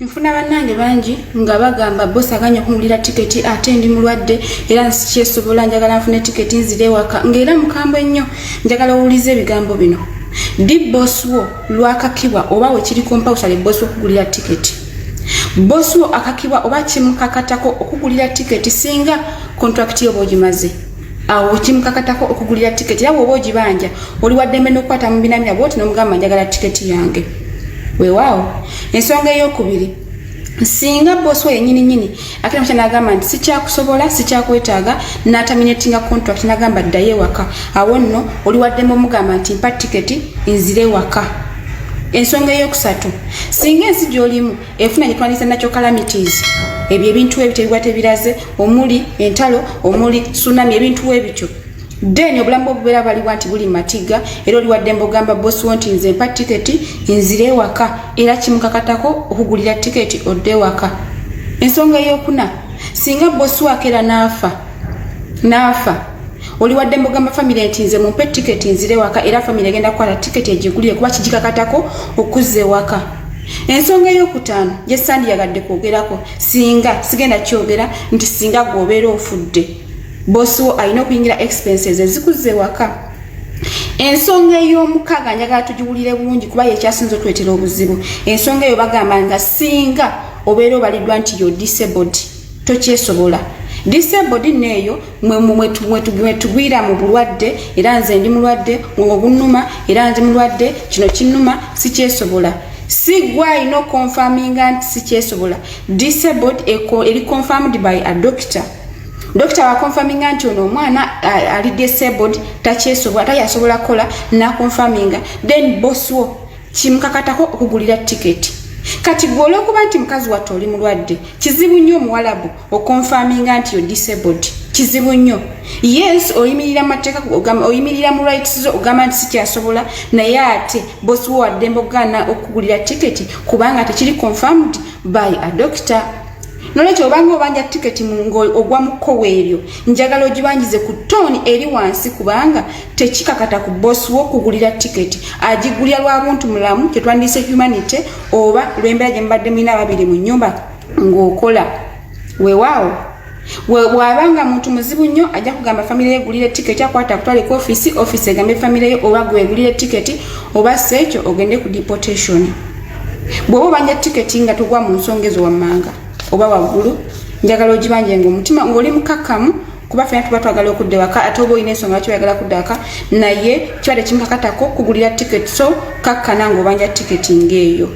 nfuna bannange bangi nga bagamba bosi aganya okungulira tiketi ate ndi mulwadde era nsikyesobola njagala nfune tiketi nzire ewaka ngaera mukambwe ennyo njagala owuliza ebigambo bino ddi bosi wo lwakakibwa oba wekiri kompawusale bosi okugulira tiketi bosi wo akakibwa oba kimukakatako okugulira tiketi singa kontrakiti yo bwogimaze awo kimukakatako okugulira tiketi era bwoba ogibanja oli waddembe n'okukwata mu binamira bwoti n'omugamba njagala tiketi yange weewaawo ensonga ey'okubiri singa bosi oyo nyini nyini akira mukya nagamba nti sikyakusobola sikyakwetaaga nataminatinga contract nagamba ddayo ewaka awo nno oli waddemu omugamba nti mpa tiketi nzire ewaka ensonga eyokusatu singa ensi gyolimu enfuna gye twandiyise natural calamities ebyo ebintu ebityo ebiba tebiraze omuli entalo omuli tsunami ebintu ebityo then obulamu bwo bubeera baliwa nti buli matiga era oliwadde mbogamba bosi wo nti nze mpa tiketi nzire ewaka era kimukakatako okugulira tiketi odde ewaka ensonga eyokuna singa bosi wakera naafa naafa oliwadde mbogamba famire nti nze mumpe tiketi nzire ewaka era famire egenda kukwata tiketi egigulire kuba kigikakatako okuzza ewaka ensonga eyokutaano gyesandiyagadde kwogerako singa sigenda kyogera nti singa gweobeera ofudde bosi wo alina okuyingira expenses ezikuze waka ensonga ey'omukaaga njagala tugiwulire bulungi kuba yekyasinza otwetera obuzibu ensonga eyo bagamba nga singa obeera obaliddwa nti yo disabled tokyesobola disable dina eyo mwetugwira mu bulwadde era nze ndi mulwadde ngo bunuma era ndi mulwadde kino kinuma sikyesobola sigwa alina okonfaminga nti sikyesobola disabled eri confirmed by a doctor dokita wakonfaminga nti ono omwana uh, ali disabled takyesobola tayasobola kukola nakonfaminga then boss wo kimukakatako okugulira tiketi kati gwe olwokuba nti mukazi watte oli mulwadde kizibu nnyo omuwalabu okonfaminga nti yo disabled kizibu nnyo yes oyimirira mumateeka oyimirira mu rights zo ogamba nti sikyasobola naye ate bosi wo waddembe okugaana okugulira tiketi kubanga tekiri confirmed by a doctor nolwekyo obanga obanja tiketi ogwa mu kkowa eryo njagala ogibanjize ku tooni eri wansi kubanga tekikakata ku boss wo kugulira ticket agigulira lwa buntu mulamu kyetwandise humanity oba lwembeera gye mubadde mulina ababiri mu nyumba ng'okola wewaawo bw'aba nga muntu muzibu nnyo ajja kugamba famire ye gulire tiketi akwata akutwale ku ofisi ofisi egambe famire ye oba gwegulire tiketi oba si ekyo ogende ku deportation bw'oba obanja tiketi nga togwa mu nsonga ezo wammanga oba waggulu njagala ogibanje ngaomutima ng'oli mukakkamu kuba fena tuba twagala okudda ewaka ate oba olina ensonga lwaki oyagala kudda waka naye kiba tekimukakatako kugulira tiketi so kakkana ngaobanja tiketi ngaeyo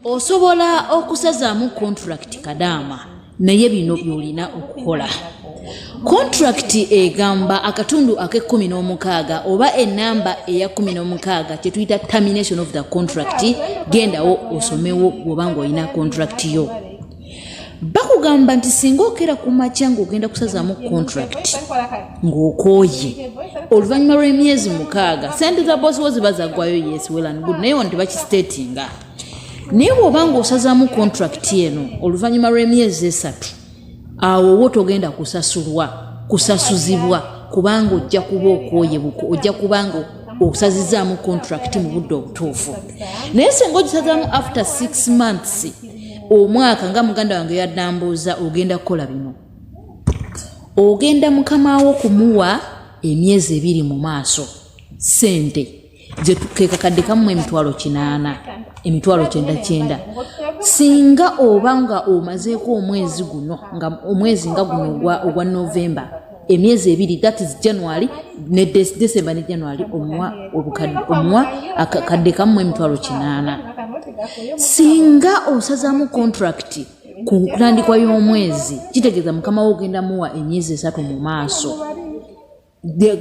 osobola okusazaamu kontulakiti kadaama naye bino byolina okukola kontulakiti egamba akatundu ak'ekkumi n'omukaaga oba enamba eya kkumi n'omukaaga kye tuyita termination of the contract gendawo osomewo bw'oba ng'olina kontulakiti yo bakugamba nti singa okeera ku makya ngaogenda kusazaamu contract ng'okooye oluvannyuma lw'emyezi mukaaga sente za bosi wo ziba zaggwayo yes welan good naye wano tebakisitatinga naye bw'oba ng'osazaamu contract eno oluvannyuma lw'emyezi esatu awo wo togenda kusasulwa kusasuzibwa kubanga ojja kuba okooye buko ojja kubanga osazizaamu contract mu budde obutuufu naye singa ogisazaamu after six months omwaka nga muganda wange yadambuuza ogenda kukola bino ogenda mukama wo kumuwa emyezi ebiri mu maaso sente kekakadde kamu emitwalo kinaana emitwalo kyenda kyenda singa oba nga omazeeko omwezi guno nga omwezi nga guno ogwa novemba emyezi ebiri that is january ne december ne january omuwa omuwa akakadde kamu emitwalo kinaana singa osazamu contract ku ntandikwa y'omwezi kitegeeza mukama wo ogenda muwa emyezi esatu mu maaso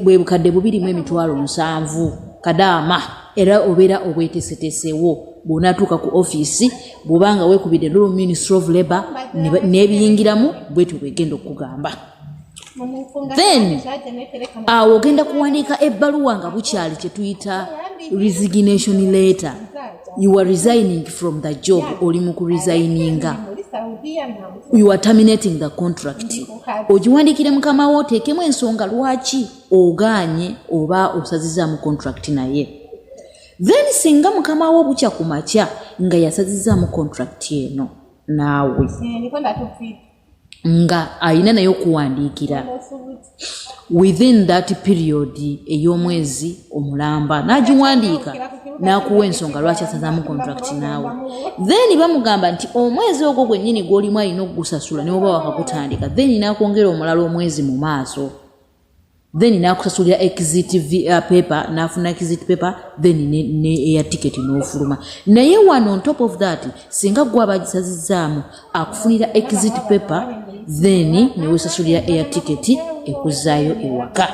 bwe bukadde bubirimu emitwalo nsanvu kadaama era obeera obwetesetesewo bwonatuuka ku ofiisi bwobanga wekubidde lulu ministry of labor nebiyingiramu bwetyo bwegenda okugamba then awo ogenda kuwandiika ebbaluwa nga bukyali kyetuyita resignation letter you are resigning from the job oli mu kuresigninga you are terminating the contract ogiwandiikire mukama wo oteekemu ensonga lwaki ogaanye oba osazizaamu contract naye then singa mukama wo bukya ku makya nga yasazizaamu contract eno naawe nga alina naye okuwandiikira within that period ey'omwezi omulamba n'agiwandiika n'akuwa ensonga lwaki asazaamu contract naawe then bamugamba nti omwezi ogwo gwennyini gw'olimu alina okugusasula newoba wakagutandika then n'akwongera omulala omwezi mu maaso then nakusasulira exit uh, paper nafuna exit paper then ne, ne eya ticket nofuluma naye wano on top of that singa gwe abagisazizaamu akufunira exit paper then newesasulira eya ticket ekuzaayo ewaka